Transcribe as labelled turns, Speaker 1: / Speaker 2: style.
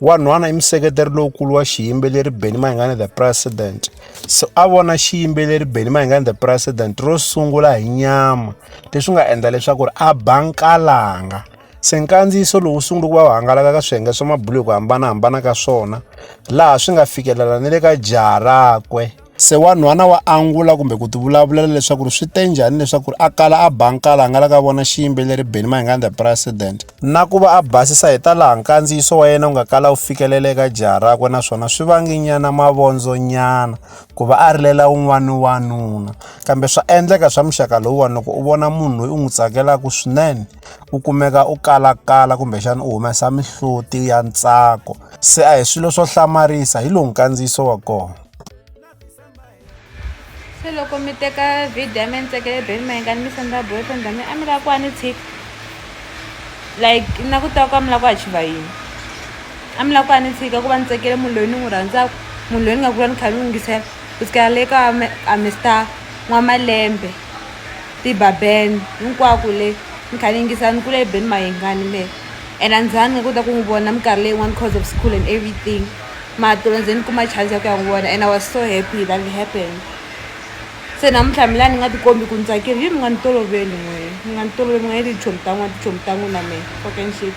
Speaker 1: Wanhwana i museketeri lowukulu wa xiyimbeleri Benny Mayengani The President. So a vona xiyimbeleri Benny Mayengani The President ro sungula hi nyama leswi nga endla leswaku ri a ba nkalanga. Se nkandziyiso lowu sungule ku va wu hangalaka ka swiyenge swa mabulo hi ku hambanahambana ka swona laha swi nga fikelela ni le ka jaha rakwe. Se wanhwana wa angula kumbe ku tivulavulela leswaku ri swi te njhani leswaku ri a kala a ba nkala nga la ka vona xiyimbeleri Benny Mayengani the President na ku va a basisa hi ta laha nkandziyiso wa yena wu nga kala wu fikelele eka jaha rakwe naswona swi vanginyana mavondzonyana ku va a rilela wun'wana wanuna kambe swa endleka swa muxaka lowuwani loko u vona munhu loyi u n'wi tsakelaka swinene u kumeka u kalakala kumbexana u humesa mihloti ya ntsako se a hi swilo swo hlamarisa hi lowu nkandziyiso wa kona
Speaker 2: se loko mi teka video ya mi ni tseke le beni mayenga ni mi senda boyfriend a mi a mi lava ku a ni tshika like na ku tiva ku a mi lava ku achiva yini a mi lava ku a ni tshika ku va ni tsekele munhu loyi ni n'wi rhandzaka munhu loyi ni nga kula ni kha ni yingisela ku tshikela le ka a mister n'wamalembe tibaben hinkwako le ni kha ni yingisela ni kule ebeni mayengani le and a ni zangi ni kota ku n'wi vona minkarhi leyin'wani because of school and everything matlula ndzi ni kuma chance ya ku ya n'wi vona and i was so happy that it happened se namuntlha mi la ni nga tikombi ku ni tsakile yi mi nga ni toloveli n'wini mi nga ni toloveli mi nga yeli tichomi ta n'wina tichomi ta n'wina me fucking shit